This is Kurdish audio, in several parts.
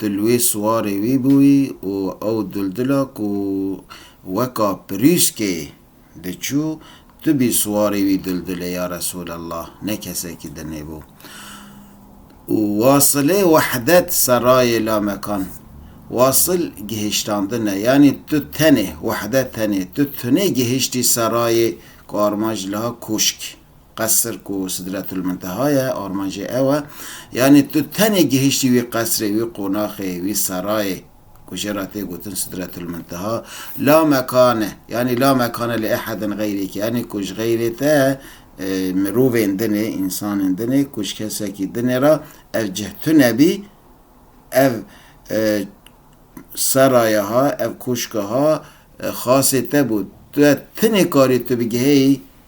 Dil wê siwarê wî bûyî û ew dildila ku weka pirûskê diçû, tu bî siwarê wî dildilê ya Resûlallah, ne kesekî din ê bû. Û wasilê wehdet serayê lamekan. Wasil gihîştandin e, yanî tu tenê, wehdet tenê, tu tunê gihîştî serayê ku armanc li ha kûşk. Qesr ku Sidretulmunteha ye, armancê ew e. Yanî tu tenê gihiştî wî qesrê, wî qonaxê, wî serayê ku jê re tê gotin Sidretulmunteha. La mekane, yanî la mekane li ehedin xeyrîkî, yanî ku ji xeyrê te mirovên din ê, însanên din ê, ku ji kesekî din ê re ev cih tune bî, ev seraya ha, ev koşka ha xasê te bû. Tu tenê karî tu bigihêyî,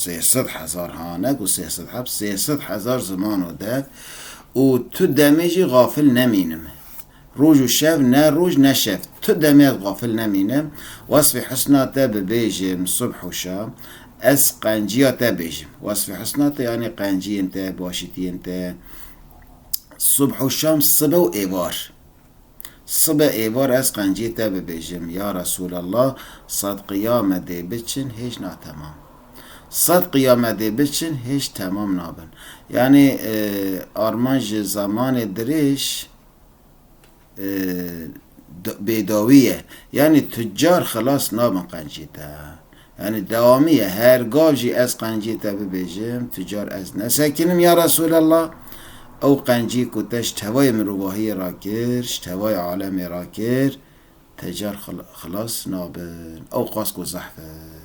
Sê sed hezar hanek û sê sed heft, sê sed hezar ziman û derd û tu demê jî xafil nemînim. Roj û şev, ne roj ne şev, tu demê ez xafil nemînim, wesfê husna te bibêjim subh û şam, ez qenciya te bêjim. Wesfê husna te yanî qenciyên te, başîtiyên te, subh û şam, sibe û êvar. Sibe êvar ez qencî te bibêjim, ya Resûlallah sed qiyame dê biçin hêj natemam. Sed qiyame dê biçin hêj temam nabin. Yanî armanc ji zemanê dirêj bêdawî ye. Yanî tucar xilas nabin qencî te. Yanî dewamî ye, her gav jî ez qencîyê te bibêjim, tu car ez nesekinim ya Resûlallah, ew qencî ku te ji tevayê mirovahiyê re kir, ji tevayê alemê re kir, te car xilas nabin. Ewqas ku zehf in.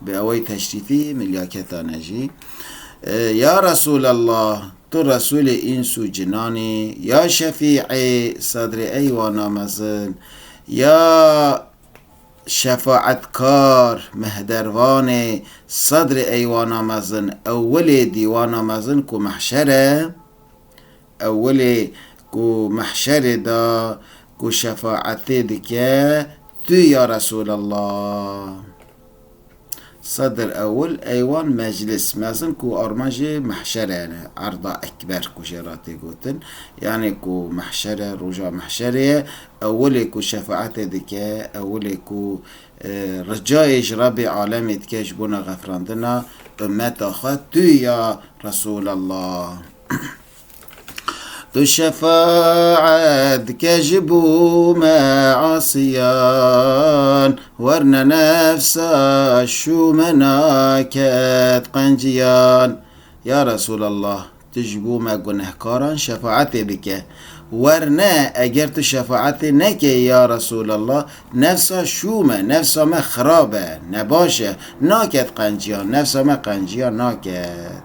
Bi awayî teşrîfî milyaketan e jî. Ya Resûlallah, tu Resûlê îns û cinan î, ya Şefîî, Sadrê Eywana Mezin, ya Şefaetkar, Mehdervanê, Sadrê Eywana Mezin, Ewwelê Dîwana Mezin ku Mehşer e, Ewilê ku mehşerê de ku şefaetê dike tu ya Resûlallah. Sedr ewil eywan meclis, mezin ku armanjê mehşere ne, erda ekber ku jê re tê gotin, yanê ku mehşere roja mehşerê ye, ewilê ku şefaetê dike, ewilê ku ricayê ji Rebê alemê dike ji bona xefirandina ummeta xwe tu ya Resûlallah. تو şefaet ke ji bo me asiyan Werne nefsa şûmena ket qenciyan Ya Resûlallah tu ji bo me gunehkaran şefaetê bike Werne eger tu şefaetê nekê ya Resûlallah nefsa şûm e nefsa me xirab e nebaş e naket qenciyan nefsa me qenciyan naket.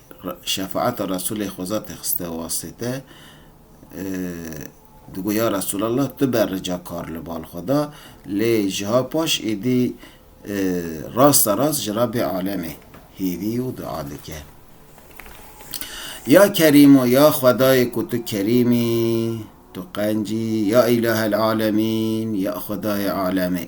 Şefaeta Resûlê xweza têxiste wastê te. Digo ya Resûlallah tu be rica kar li bal xwe da, lê jiha paş êdî rasta rast ji Rabbê Alemê hêvî û dua dike. Ya Kerîm û ya Xwedayê ku tu Kerîm î, tu qenc î, ya Îlahel Alemîn, ya Xwedayê Alemê.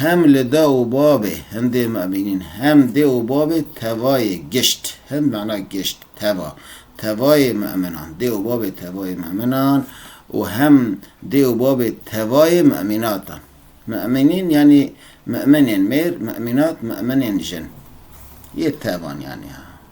Hem li da û babê hindê me bînîn, hem dê û babê tevayê gişt. Hind mana gişt, teva. Tevayê meminan, dê û babê tevayê meminan û hem dê û babê tevayê memînatan. Memînîn yanî meminên mêr, memînat meminên jin. Yê tevan yanî ha.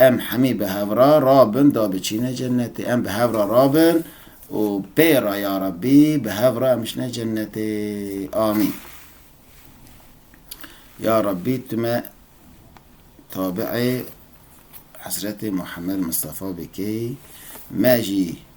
Em hemî bi hev re rabin da biçîne cennetê. Em bi hev re rabin û pê re ya Rabbî bi hev re em biçine cennetê. Amîn. Ya Rabbî tu me tabi'ê Hezretê Muhammed Mistefa bikey, me jî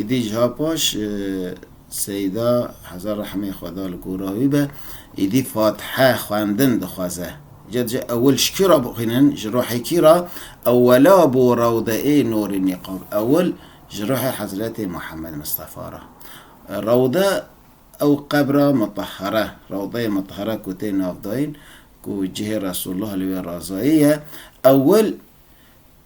Îdî ji ha paş Seyda heza rehmê xweda li gora wî be îdî fatihe xwendin dixwaze. Ca dije ewil ji kî ra bixwînin? Ji ruhê kî ra? Ewela bo rewdeê Nûrî Nîqab. Ewil ji ruhê hezretê Muhammed Mistefa ra. Rewde ew qebra mutehhere, rewdeyê mutehhere ku tê navdayîn ku cihê Resûlullah li wê razayî ye. Ewil.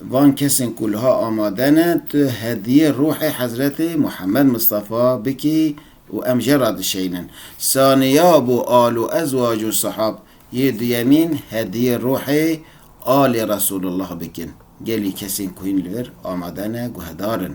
Van kesên ku liha amade ne, tu hediyê ruhê Hezretê Muhammed Mistefa bikî û em je radişeynin. Saniya bo al û ezwac û sihab, yê duyemîn hediyê ruhê alê Resulullah bikin. Gelî kesên ku hîn li vir amade ne guhedar in.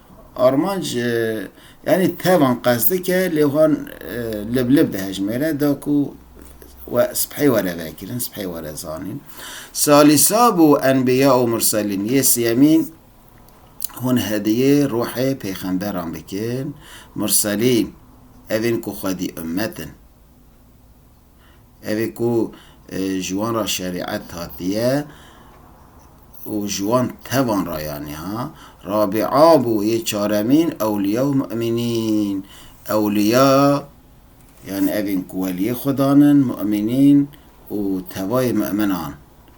Armanc yanî tevan qest dike lê wan lib lib dihejmêre da ku we sibhê were vekirin, sibhê were zanîn. Salîsa bû enbîya û murselîn yê siyemîn hûn hediyê ruhê pêxemberan bikin, murselîn ev ên ku xwedî ummet in. Ev ê ku ji wan re şerîet hatiye û ji wan tevan re yanî ha. Rabîa bû yê çaremîn ewlîya û mu'mînîn. Ewlîya yanî ev ên ku welîyê Xwedan in, mu'mînîn û tevayê mu'minan.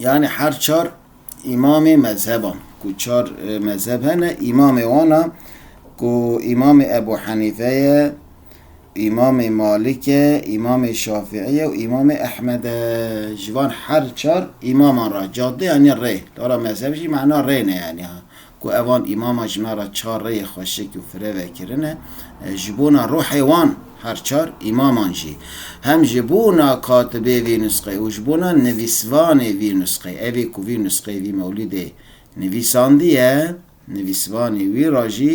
Yanî her çar îmamê mezheban ku çar mezheb hene îmamê wan a ku îmamê Ebû Henîfe ye, îmamê Malik e, îmamê Şafîî ye û îmamê Ehmed e. Ji van her çar îmaman re cadeyan e rê. Dora mezheb jî mana rê ne yanî ha. ku evan îmama jina ra çar rêyê xweşik û fire vekirine, ji bona ruhê wan her çar îmaman jî, hem ji bona katibê vî nusxê û ji bona nivîsvanê vî nusxê, evî ku vî nusxê vî mewlîdê nivîsandiye, nivîsvanê wî ra jî,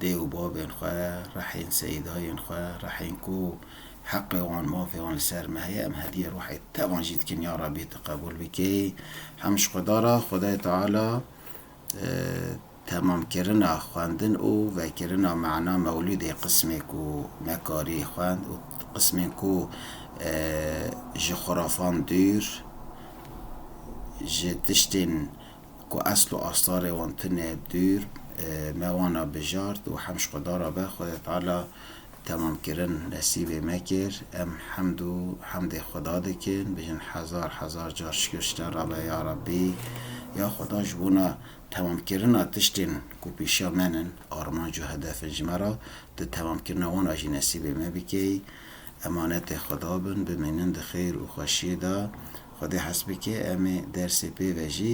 Dê û bavên xwe, rehên seyîdayên xwe, rehên ku heqê wan, mafê wan li ser me heye, em hediyê ruhê te wan jî dikin ya Rabbî tu qebûl bikî. Hemû ji Xweda re, Xwedayê Teala temamkirina xwendin û vekirina mana mewlûdê qismê ku nekarî xwend û qismên ku ji xurafan dûr, ji tiştên. ku esl û astarê wan tune dûr me wana bijart û hem ji Xweda re be Xwedê Teala temamkirin nesîbê me kir. Em hemd û hemdê Xweda dikin, bijin hezar hezar car şikir ji te re be ya Rabbî, ya Xweda ji bona temamkirina tiştên ku pîşiya me nin, armanc û hedef in ji me re, tu temamkirina wan a jî nesîbê me bikey. Emanetê Xweda bin, bimînin di xêr û xweşiyê de. Xwedê hes bike em ê dersê pê ve jî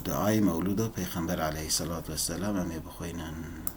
duayê mewlûda Pêxember aleyhî selatu weselam em ê bixwînin.